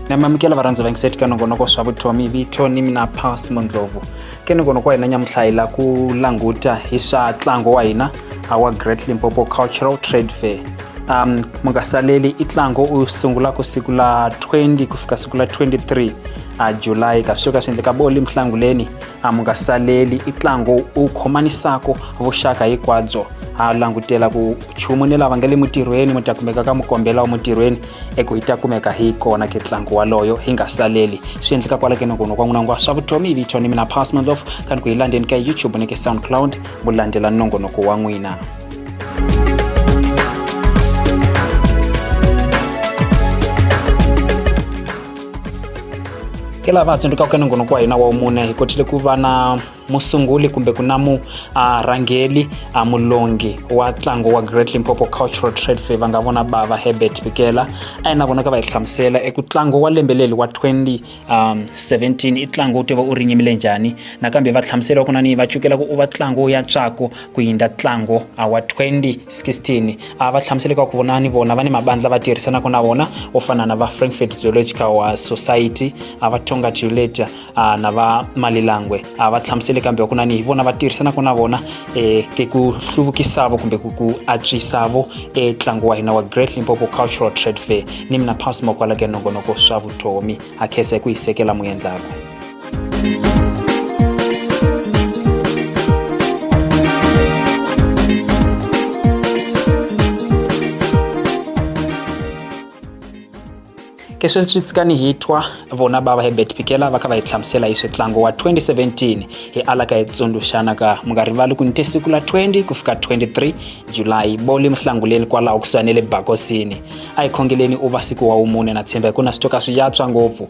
namamukela varhandzi va ngiseti ka nongonoko swa vutomi vito ni mina pass mondlovu ke nongonoko wa hina nyamuhla hi la ku languta hi swa ntlango wa hina our great limpopo cultural trade fair um mu nga saleli i ntlango u sungula ku siku la 20 ku fika siku la 23 a july ka swi ka swi endleka boli mhlanguleni a mu nga saleli i tlango u khomanisako vuxaka hikwabyo ha langutela ku chumu ni lava nga le mutirhweni mu ta kumeka ka mukombela wa mutirhweni eku hi ta kumeka hi kona ke tlango waloyo hi nga saleli swi endleka kwala ke nokono kwa n'wina ngwa swa vutomi vito ni mina pasmandlof kani ku hi landzeni ka youtube ni ke soundcloud mu landzela nongonoko wa n'wina ke lava tsundzuka ku nongonoko kwa hina wa umune hi kotile ku va na musunguli kumbe ku na murhangeli uh, mulongi wa ntlango wa great limpopo cultural trade fair va nga vona bava herbert bikela a yi na vona ka va hi hlamusela eku ntlango wa lembe leli wa 2017 um, i ntlango wu tiva u rinyimile njhani nakambe va hlamusela ku na ni va cukela ku u va ntlango ya tswako ku yindla ntlango uh, wa 2016 a va hlamusele ka ku vona ni vona va ni mabandla va tirhisanaka na vona vo fana na va frankfurt zoological uh, society a va tonga tiuleta uh, na va malilangwe a va hlamusele kambe ku na ni hi vona va tirhisanaka na vona eh, ke ku hluvukisavo kumbe ku ku antswisavo etlangu eh, wa hina wa great limpopo cultural trade fair ni mina pass mokwala ke nongonoko swa vutomi a khesa hi ku yi sekela mu endlaka ke sweswi tsikani hi twa vona bava hebert pikela va kha va hi hlamusela hi switlango wa 2017 hi ala ka hi tsundzuxana ka mi nga rivali ku ni te siku la 20 ku fika 23 julayi boli muhlanguleni kwalaho kusuhani le bakosini a hi khongeleni u va siku wa wumune na tshemba hi ku na swi twa ka swi yatswa ngopfu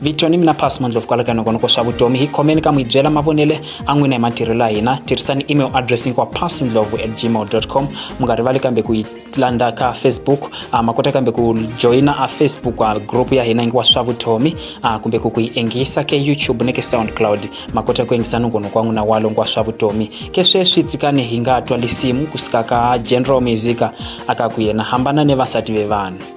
vito ni mina pass mandlovu kwala ka nongonoko swa vutomi hi khomeni ka n'wi byela mavonele a n'wina hi matirhelo ya hina tirhisani email address hinkwa passndlovu at gmail com mi nga rivali kambe ku yi landa ka facebook uh, ma kota kambe ku joyina a facebook uh, group ya hina hinkwa swa vutomi uh, kumbe ku ku yi engisa ke youtube ni ke soundcloud ma kota ku engisa nongonoko wa n'wina walo nkwa swa vutomi ke sweswi tsikani hi nga twa lisimu ku suka ka general musica aka ku yena hambana ni vasati ve vanhu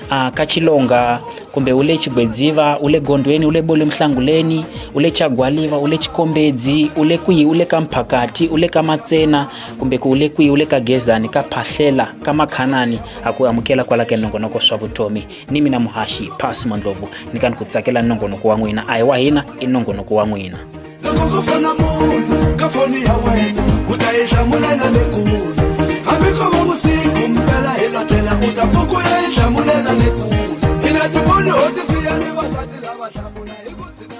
a ka chilonga kumbe u le chigwedziva u le gondweni u le bole muhlanguleni u le chagwaliva u le chikombedzi u le kwihi u le ka mphakati u le ka matsena kumbe ku u le kwihi u le ka gezani ka phahlela ka makhanani ha ku amukela kwala ka nongonoko swa vutomi ni mina muhaxi pasi mondlovu ni ka ni ku tsakela nongonoko wa n'wina a hi wa hina i nongonoko wa n'wina loko ko fona munhu ka foni ya wena u ta yi hlamulela le kule hambi ko va vusiku mpela hi latlela u ta pfuku ya yi hlamulela le kule hi na tifoni ho tisiya ni vasati lava hlamula hi ku tshika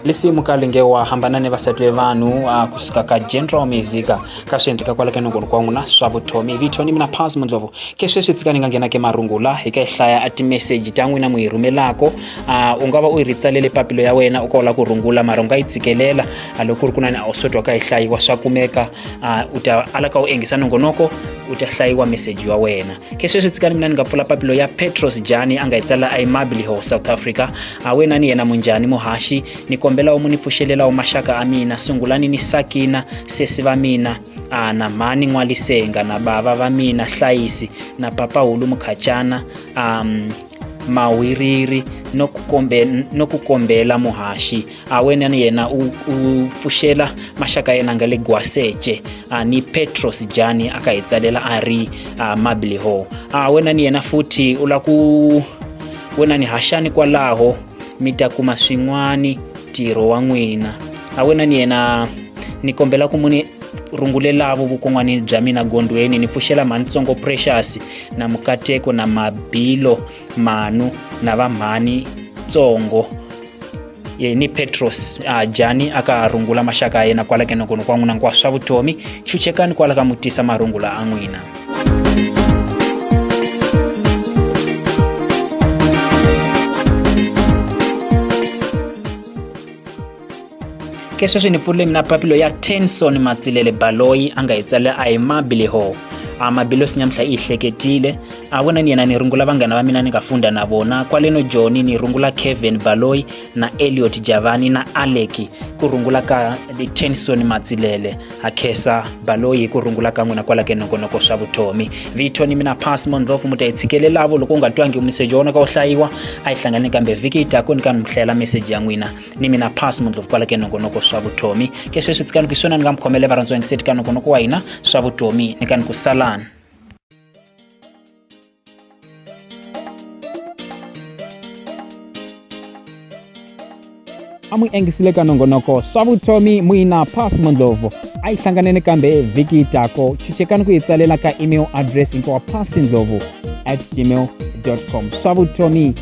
lisi mukalinge wa hambana ni vasati ve vanhu a kusuka ka general music ka swi endleka kwala ka nongolo kwa n'wina swa vuthomi vito ni mina pas mundlovu ke sweswi tsika ni nga nghena ke marungula hi ka hi hlaya a timeseji ta n'wina mu yi rhumelako a u nga va u yi ritsalele papilo ya wena u ka u lava ku rungula mara u nga yi tshikelela a loko ku ri kunani a wu swi twaka yi hlayiwa swa kumeka a u ta ala ka u engisa nongonoko u ta hlayiwa meseji wa wena ke sweswi tsikani mina ni nga pfula papilo ya petros jani a nga yi tsala aimabiliho south africa a wena ni yena munjhani muhaxi ni kombela u mu ni pfuxelela u maxaka a mina sungulani ni sakina sesi va mina ana mhani n'walisenga na bava va mina hlayisi na papahulu mukhachana um mawiriri no ku kombe- no ku kombela muhaxi a wena ni yena u, u pfuxela maxaka yena nga le gwaseche a ni petros jani a ka hi tsalela a ri a mabliho a wena ni yena futhi u la ku wena ni haxani kwalaho mi ta kuma swin'wani ntirho wa n'wina a wena ni yena ni kombela ku muni rungulelavo vukon'wani bya mina gondweni ni pfuxela mhanisongo precious na mukateko na mabilo manu na vamhani tsongo ye ni petros a jani a ka rungula maxaka ya yena kwala kenokono kwa n'wina nkwaswa vutomi chuchekani kwala ka mutisa marungula a n'wina ke sweswi ni pfulule mina papilo ya tenson matsilele baloyi a nga hi tsalela a hi mabileho a mabilosi nyamuhla i yi hleketile a vona ni yena ni rungula vanghana va mina ni nga funda na vona kwaleno joni ni rungula kevin baloyi na eliot javani na aleki ku rungula ka tenson matsilele a khesa baloyi hi ku rungula ka n'wina kwala ke nongonoko swa vutomi vito ni mina pas monrof mu ta yi tshikelelavo loko u nga twangi meseji wa wona ka wu hlayiwa a yi hlangane kambe vhiki yi taku ni ka ni mu hlayela meseji ya n'wina ni mina pass mundlovu kwala ke nongonoko swa vutomi ke sweswi tsikani ku swona ni nga mi khomele varhandziwa ngiseti ka nongonoko wa hina swa vutomi ni kani ku salani a mu engisile ka nongonoko swa vutomi muina pass mondlovu a yi hlanganeni kambe vhiki tako chuchekani ku yi tsalela ka email address hinkwawa pass ndlovu at gmail com swa vutomi